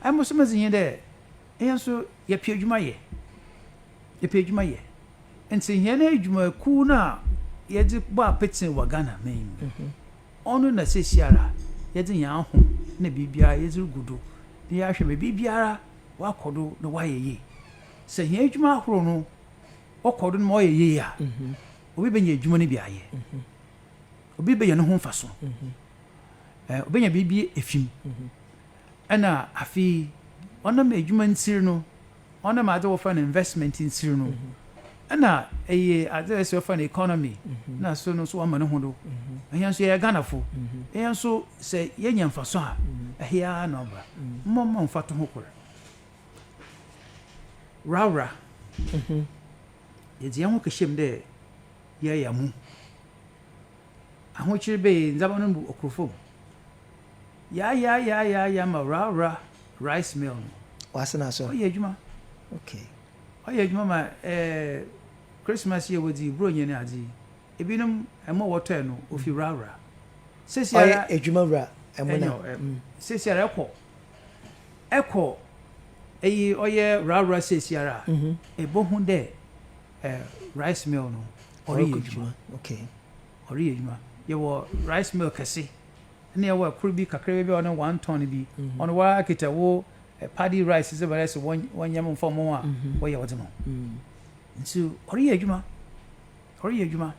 Mboso medze nye dɛ hɛn so yɛpɛ edwuma yɛ, yɛpɛ edwuma yɛ. Ntsi hɛn edwumakuw no a yɛdze bɔ apetse wɔ Ghana man mu no, ɔno na seseiara yɛdze hɛn ahom na biribiara yɛdze rugu do na yɛahwɛ ma biribiara ɔakɔ do na ɔayɛ yie. Sɛ hɛn edwuma ahorow no ɔkɔ do na ɔyɛ yie a, obi benya edwuma no bi ayɛ, obi benya noho mfaso, obenya biribi efi mu, Nna afei ɔnam edwuma ntsir no, ɔnam adze wɔfa no investment ntsir no, nna eyɛ adze a sɛ ɔfa no economy na so no so ɔama no ho do. Hɛn so yɛyɛ Ghanafo, hɛn so sɛ yenya mfaso a, ɛhe ara na ɔba. Mma ɔmma mfatoho kor. Worawora, yɛdze hɛn ho kɛhyɛ mu dɛ yɛayamu. Ahokyer bee ndzɛmba no mu okurfo mu. Yaayaayaayaaya ma Rawra rice mill no. Ɔase na asɔr. Ɔyɛ edwuma. Okay. Ɔyɛ edwuma ma eh, Christmas yi a wɔdzi yi, Buronyi ne adze yi, binom mbo a wɔtɔe no ofi Rawra. Seseiara. Ɔyɛ edwuma wura mbo na. Nyew, eh, seseiara ɛkɔ, ɛkɔ eyi ɔyɛ Rawra seseiara a, ebohu dɛ eh, rice mill no ɔreyɛ adwuma ɔreyɛ adwuma yɛwɔ rice mill kɛse ɛna yɛwɔ ɛkoro bi kakra bi a ɔne one ton bi mhm. ɔno wa kita wo eh, paddy rice sɛ bɛrɛ sɛ wɔnyɛ mo nfa mo a mhm. wɔyɛ wɔde mo mhm. nti ɔreyɛ adwuma ɔreyɛ adwuma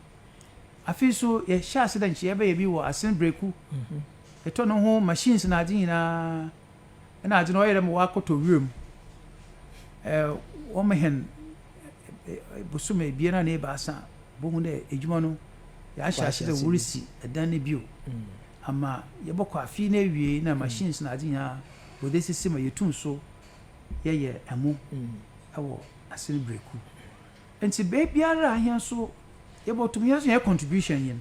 afei nso yɛhyɛ ase dɛ nkyɛ yɛbɛyɛ bi wɔ asen breku ɛtɔ no ho machines na ade nyinaa Nna adze no ɔyɛ dɛ mowɔ akɔtɔ wura mu. Wɔhɛn bosoom ebien anaa ebiasa a, bohu dɛ edwuma no yɛahyɛ ase dɛ worisi dan no bio ama yɛbɔkɔ afe no ewiei na machines na adze nyina wɔdze esisi ma yetum so yɛyɛ mo wɔ ase no berɛkuw. Ntsi beebiara a hɛn so yɛbɔto mu hɛn so hɛn contribution nye n'.